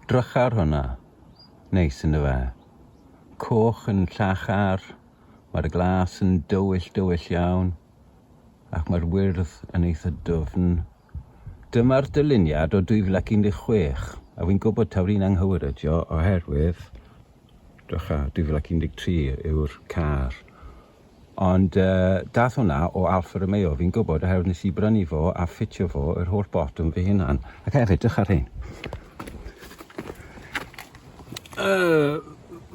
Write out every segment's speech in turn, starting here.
Drycha ar hwnna. Neis yn dyfe? Coch yn llachar, mae'r glas yn dywyll dywyll iawn, ac mae'r wyrdd yn eitha dwfn. Dyma'r dyluniad o 2016, a fi'n gwybod taw rhi'n anghywir ydio oherwydd, drycha, 2013 yw'r car. Ond dath hwnna o Alfa Romeo, fi'n gwybod, oherwydd nes i brynu fo a ffitio fo yr holl botwm fy hunan. Ac hefyd, dych ar hyn. Uh,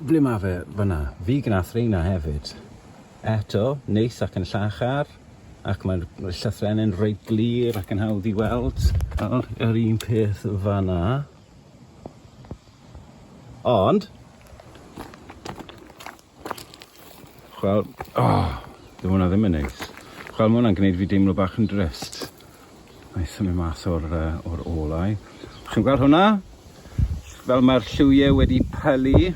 ble mae fe fyna? Fi gnath reina hefyd. Eto, neis ac yn llachar, ac mae'r llythrenau'n reit glir ac yn hawdd i weld. Nawr, yr un peth fanna. Ond, Chwel, oh, ddim hwnna ddim yn neis. Chwel, mae hwnna'n gwneud fi deimlo bach yn drist. Mae symud mas o'r, uh, or olau. Chi'n gweld hwnna? Fel mae'r lliwiau wedi pylu.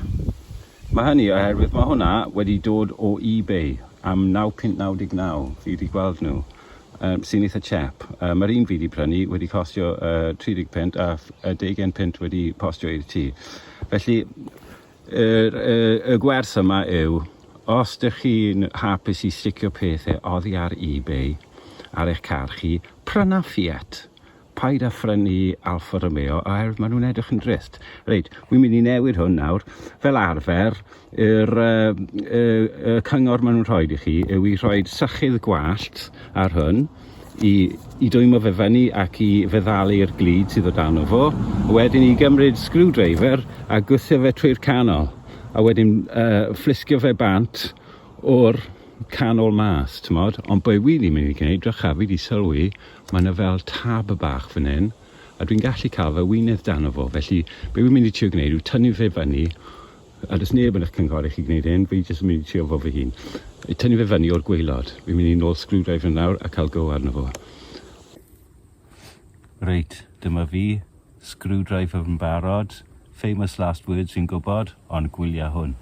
Mae hynny oherwydd mae hwnna wedi dod o eBay am 9.99. Fi wedi gweld nhw. Um, sy'n eitha chep. Um, mae'r un fi wedi prynu wedi costio uh, 30 pint a 10 pint wedi postio i'r tŷ. Felly, Yr y y gwers yma yw, os dych chi'n hapus i sticio pethe oddi ar eBay ar eich car chi, pryna Fiat. Paid â phrynu Alfa Romeo oherwydd maen nhw'n edrych yn drist. Reit, wi'n mynd i newid hwn nawr. Fel arfer, yr y y y cyngor maen nhw'n rhoid i chi yw i rhoid sychydd gwallt ar hwn. i i dwymo fe fyny ac i feddalu'r glud sydd o dan o fo, a wedyn i gymryd screwdriver a gwthio fe trwy'r canol, a wedyn uh, fflisgio fe bant o'r canol mas, t'mod? Ond be wi wedi mynd i gwneud, drycha, fi wedi sylwi, mae yna fel tab y bach fan hyn, a dwi'n gallu cael fy wynydd dan o fo, felly be wi'n mynd i trio gwneud yw tynnu fe fyny A does neb yn eich cynghori chi gwneud hyn, fi jyst yn mynd i trio fo fy hun. I tynnu fe fyny o'r gwaelod. Fi'n mynd i nôl screwdriver nawr a cael go arno fo. Reit, dyma fi, screwdriver yn barod, famous last words fi'n gwybod, ond gwylia hwn.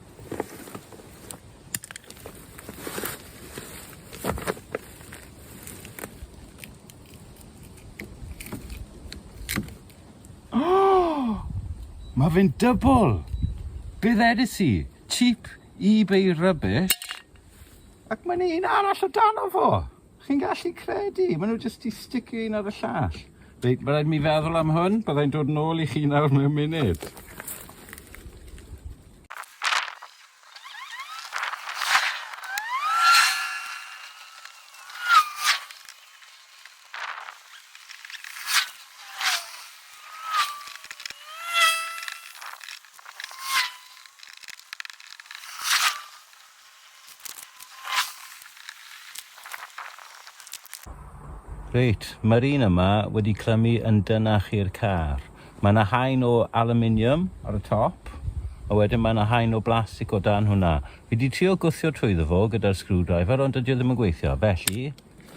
Oh! Mae fe'n dybl! Be ddedis i? Cheap eBay rubbish? Ac mae'n un arall o dano fo! Chi'n gallu credu? Mae nhw jyst i sticio un ar y llall. Reit, mae rhaid mi feddwl am hwn, byddai'n dod nôl i chi nawr mewn munud. Reit, mae'r un yma wedi clymu yn dynach i'r car. Mae yna haen o aluminium ar y top, a wedyn mae yna haen o blastig o dan hwnna. Fi wedi trio gwthio trwyddo fo gyda'r screwdriver, ond dydy o ddim yn gweithio. Felly,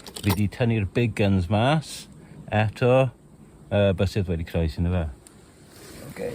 fi wedi tynnu'r big guns mas, eto, y bysydd wedi croes yn y fe. Okay.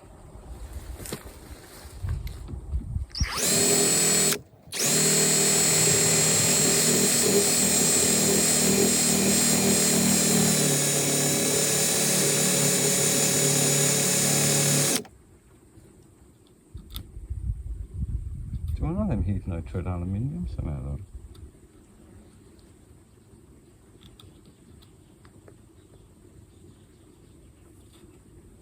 nitrate aluminium semeddwr.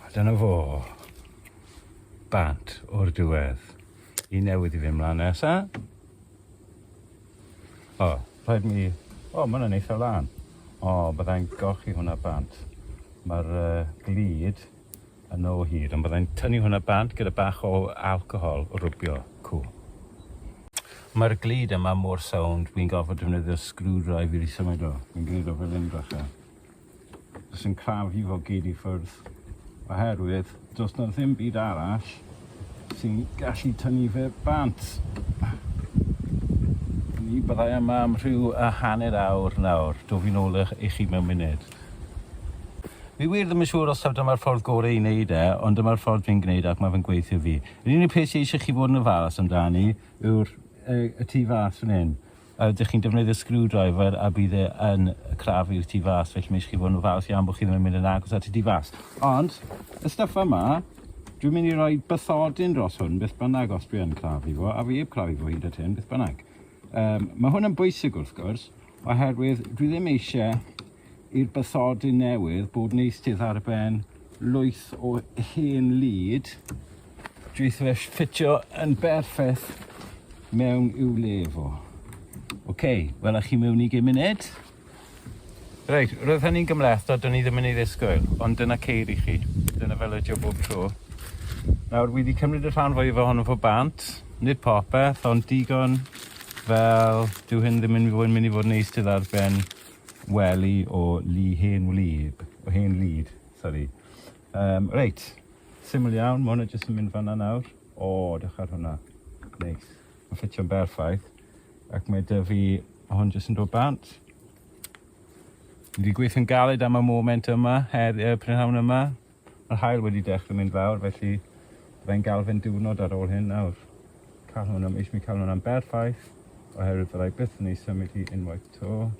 A dyna fo. Bant o'r diwedd. I newydd i fy mlaen nesa. O, rhaid mi... O, mae hwnna'n eitha lan. O, byddai'n golchi hwnna bant. Mae'r uh, glid Yn o hyd, ond byddai'n tynnu hwnna bant gyda bach o alcohol rwbio, cŵl. Mae'r glud yma mor sownd, wi'n gorfod defnyddio screwdrive i rhysymud o. Wi'n gwneud o fel hyn bach a jyst yn crafu fo gyd i ffwrdd oherwydd does na ddim byd arall sy'n gallu tynnu fe bant. Ni byddai yma am rhyw a hanner awr nawr. Dw fi'n ôl i chi mewn munud. Fi wir ddim yn siŵr os taw dyma'r ffordd gore i wneud e, ond dyma'r ffordd fi'n gwneud e ac mae fe'n gweithio fi. Yr unig peth sy eisiau chi fod yn ofalus amdani yw'r yy y tu fas fan hyn. Yy dych chi'n defnyddio screwdriver a bydd e yn crafu'r tu fas, felly mae eisiau chi fod yn ofalus iawn bod chi ddim yn mynd yn agos at y tu fas. Ond y stuff yma, dwi'n mynd i roi bathodyn dros hwn beth bynnag os dwi yn crafu fo, a fi heb crafu fo hyd at hyn beth bynnag. Um, mae hwn yn bwysig wrth gwrs, Oherwydd dwi ddim eisiau i'r bythodi newydd bod yn eistedd ar ben lwyth o hen lid drwyth fe ffitio yn berffaith mewn i'w le fo. Oce, okay, wela chi mewn i gym munud. Reit, roedd hynny'n gymleth, a dyn ni ddim yn ei ddisgwyl, ond dyna ceir i chi. Dyna fel ydio bob tro. Nawr, wedi cymryd y rhan fwyaf ohono fo bant, nid popeth, ond digon Fel, dyw hyn ddim yn fwy yn myn' i fod yn neis ti ar ben wely o lu hen wlyb, o hen lud, sori. Yym, reit, syml iawn, ma' hwnna jyst yn mynd fan'na nawr. O, dewch ar hwnna. Neis. Ma'n ffitio'n berffaith. Ac mae 'da fi hwn jyst yn dod bant. Fi 'di gweithio'n galed am y moment yma, her- yy prynhawn yma. Mae'r haul wedi dechrau mynd fawr felly byddai'n galfyn diwrnod ar ôl hyn nawr. Cael hwn am eisiau cael hwn am berffaith oherwydd fyddai byth yn ei symud hi unwaith to.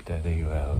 There you go.